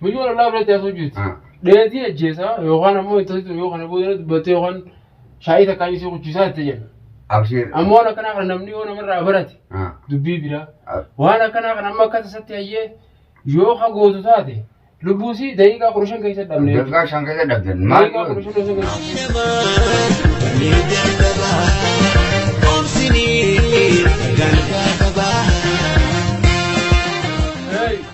Miliyoon ollaa biratti haasoo jirti. Dheetii ajjeesaa yookaan ammoo intalti yoo kana booda dubbattee yookaan shaayii takkaan isii kuchisaa itti jenna. Abshiir. Amma waan akkanaa kana namni yoo namarraa barate dubbii biraa. Waan akkanaa kana amma akka tasatti hayyee yoo ka gootu taate lubbuu isii daqiiqaa kudha shan keessa dhabne. Daqiiqaa shan keessa dhabdan. Maal Daqiiqaa kudha shan keessa dhabne. Hey!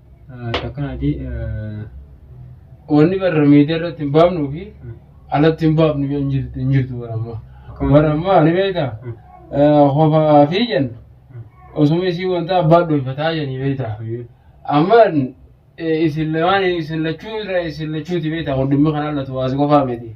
Akkanaati wanni barra miidiyaa irratti hin baafnuu fi alatti hin baafnu yoo hin jirtu hin jirtu bara ammaa. Bara ammaa ni beektaa? Hofaa fi jenna. Osuma isii wanta abbaa dhoyfataa janii beektaa? Amma isin lamaan isin lachuu irra isin lachuuti beektaa? Kun dhimmi kanaan latu waasi qofaa miti.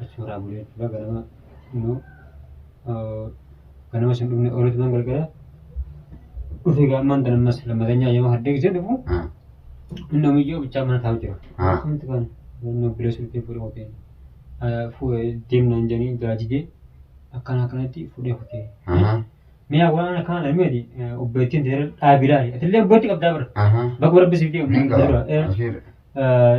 achi irraa bulee jechuudha ganama immoo ganama sun dhufne oolatu nan galgala dhufe egaa ammaan tan ammas lammatanyaa yoo haddee gisee dhufu inni omiyyoo bichaa mana taa'u jira akkamitti kan nu bilee sultee fuudhe hoteen deemnaan jedhanii gaajidee akkana akkanatti fuudhee hotee mi'a waan akkaan armeeti obbeettiin teera dhaabilaali atillee obbeetti qabdaa bara bakka rabbi siif deemu Nin qaba. Ashiir.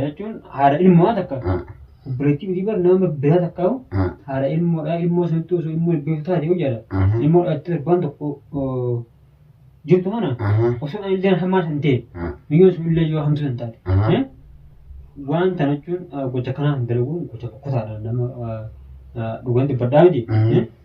jechuun haadha ilmoo takka Ah. obboleettii miti bar nama biraa takka hoo Ah. haadha ilmoodha ilmoo sanatti osoo ilmoo ilbeeku taate yoo jedha Aha. ilmoo dhalattee torbaan tokko oo, jirtu kana Aha. osoo ani illee hamaa san ta'e Ah. biyyoon sun illee yoo hamtuu san taate Aha. eh, waan kana jechuun ah, gocha kanaa hin dalaguun gocha kutaadha nama ah, ah, dhugaan dubbadhaa miti Aha. eh,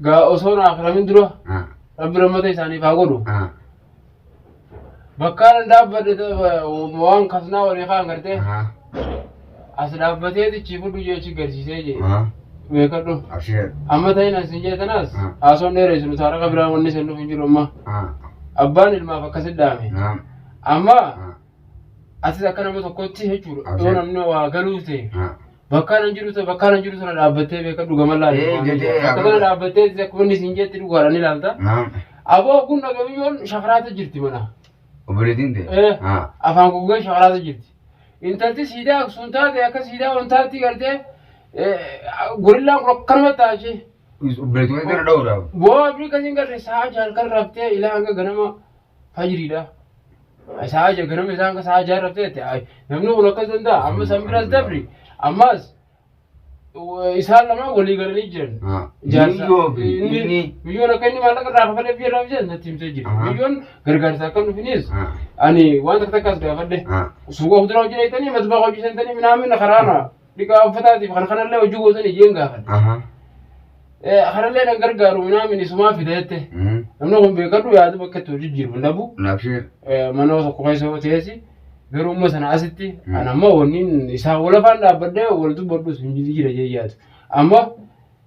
gaa osoo hin akramin dura Ah, rabbi rammata isaaniif haa godhu ah, bakkaan dhaabbadhe waan kasnaa walii kaan gartee ah, as dhaabbatee tichii fudhu jee achi garsiisee jee ah, beekadhu abshir. amma ta'in as hin jeetanas Mm. haasoon dheereessu nuti harka biraan wanni isin dhufu hin jiru amma Ah, abbaan ilmaaf akkasit dhaame naam, amma ah, atis akka nama tokkotti jechuudha Abshir. yoo namni waa galuu ta'e ah, Bakkaan an jiru bakkaan an jiru sana dhaabbattee beeka dhugaman laata. Ee, waan jedhee jedhu. Bakka sana agarra. dhaabbattee isa akkuma inni siin jeetti dhugaadhaan ni laalta. Naam. Aboo kun dhagamiyyoon shakaraata jirti mana. Obboleettiin ta'e. Ee. Haa. Afaan guggee shakaraata jirti. Intalti siidaa aksuun taate akka siidaa wantaatti gartee gorillaan kun akkanuma taasise. Obboleettiin ta'e dha'uudhaaf. Boo abdii kasiin garre sa'a jaal kan raftee ilaa hanga ganama fajriidha. Sa'a ja'a ganama isaan ka sa'a ja'a raftee jette ay, namni kun akkas danda'a amma san biras dabri ammas w- isaan lamaan walii galanii jiran. Ah, Jaarsa- miyyoo fi inni- inni. Miyyoon akka inni maallaqa irraa kafalee biyya irraa biyya natti himtee jira. Aha. Miyyoon gargaarsa akka nufinis Ah, ani waan takka takkaas gaafadhe. ah. Suuqa kuduraa hojjetanii matbaa hojjetanii minaamin karaana. dhiqaa uffataatiif kan kanallee hojii gootan iyyeen gaafadhe. Aha. Eh, Kanallee nan gargaaru minaa minisumaa fida jette. Mm. Namni kun beekadhu yaada bakka itti hojii jiru hin dhabu. Nabshiir. Eh, Mana tokko keessa yoo teessi garuu immoo sana asitti Mm. an amma wanni isaa walafaan dhaabbadhee wal dubbadhus hin jijjiira jee yaadu. Amma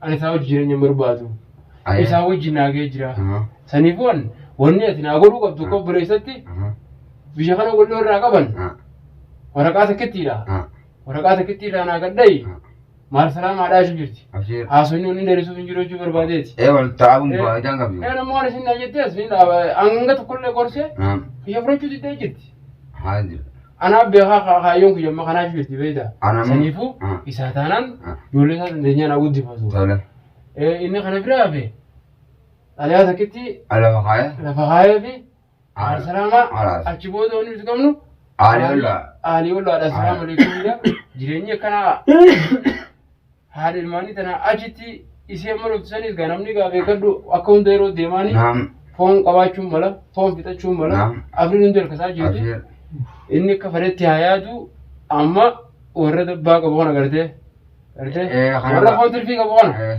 Ani isaa wajji jireenya hin barbaadu. Ayee. Isaa wajji naagee jira. Aha. Saniifuu an wanni ati naa godhuu qabdu akka obboleessatti Aha. biyya kana godhuu irraa qaban Ah. waraqaa takkittiidha. Ah. Waraqaa takkittii irraa naa gadha'i. Ah. Maal salaamaa dhaashu jirti. Abshiir. Haasofni wanni dheerisuuf hin jiru jechuu barbaadeeti. Ee wal taa'uun Eh. faayidaan qabdu. Ee namni waan isin naa jettee as ni dhaaba. Hanga tokkollee gorsee Ah. biyya fudhachuu diddee jirti. Haa jiru. Anaa beekaa ka- kaayyoon kiyya amma kanaaf jirti beektaa? Anam- Saniifuu Ah. isaa taanaan Ah. ijoollee isaa dandeenyaan haa guddifatu. Tole. Eh, Inni kana bira hafe xalayaa takkitti Alafa kaaya. lafa kaayee fi Aal- haal salaamaa Alaas. achi booda wanni nuti qabnu Aalii ollaa. aalii ollaadha salaamu alaikum jedha jireenyi akkanaa haadha ilmaanii tana achitti isii amma loltu saniis gaa namni gaa beekadhu akka hunda yeroo deemaanii Naam. foon qabaachuun mala foon fixachuun mala Naam. afriin hundi harkasaa jirti Abshir. inni akka fedhetti haa yaadu amma warra dabbaa qabu kana gartee gartee Eh, kana warra ba- foon tirfii qabu kana Eh.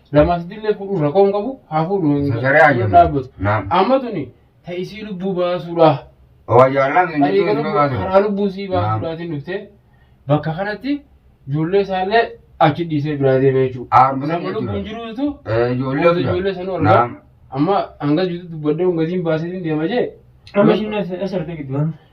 Lamaa sadillee fuudhuun rakkoo hin qabu haa fuudhu hin Sagalee haa jennu. dhaabbatu. Naam. Amma tuni ta isii lubbuu baasuudha. Waa jaallaan hin Ani jirtu garuu baatu. karaa lubbuu sii Naam. baasuudhaatiin dhuftee bakka kanatti ijoollee isaallee achi dhiisee biraa deemee jechuudha. Aarma Nama sana lubbuun jechuudha. jiruutu Eh, Ijoollee Gosa jira. ijoollee sanuu argaa. Naam. Amma hanga jirutti dubbadhee hongasiin baasee deema jee. Amma ishiin as argite gidduu.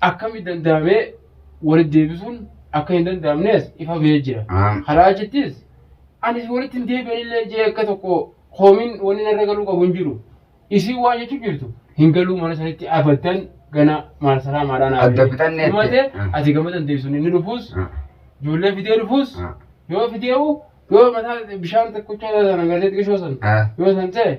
akkamitti danda'amee walitti deebisuun akka hin danda'amnes ifa ba'ee jira. Ah. Kanaa achittis anis walitti hin deebi'anillee jee akka tokko koomiin wanni narra galuu qabu hin jiru. Isiin waan jechuu jirtu hin galuu mana sanitti abadan gana maal saraa maadhaa naa Adda bitanneetti. Dhumatee Ah. ati gama dandeessuun inni dhufuus Ah. ijoollee fidee dhufuus Ah. yoo fidee'u yoo mataa bishaan tokkocha sana gazeetti qishoo sana Ah. yoo san ta'e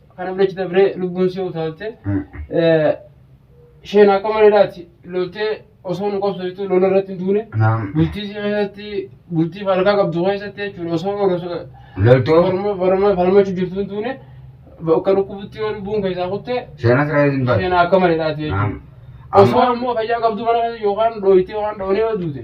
Kan abdachi dabree lubbuun si utaalte. Isheen akka mareedhaati loltee osoo nu qabsootu lola irratti hin duune. Naam. Bultii si keessatti bultii falkaa qabdu keessatti jechuudha osoo osoo Loltoo. falma- falma- falmachuu jirtu hin duune bakka dhukkubutti yoo lubbuun keessaa kutte Seenaa sirraa hin baatu. isheen akka mareedhaati jechuudha. Naam. Osoo Amma ammoo fayyaa qabdu mana keessa yookaan dhooyitee yookaan dhoonee yoo duute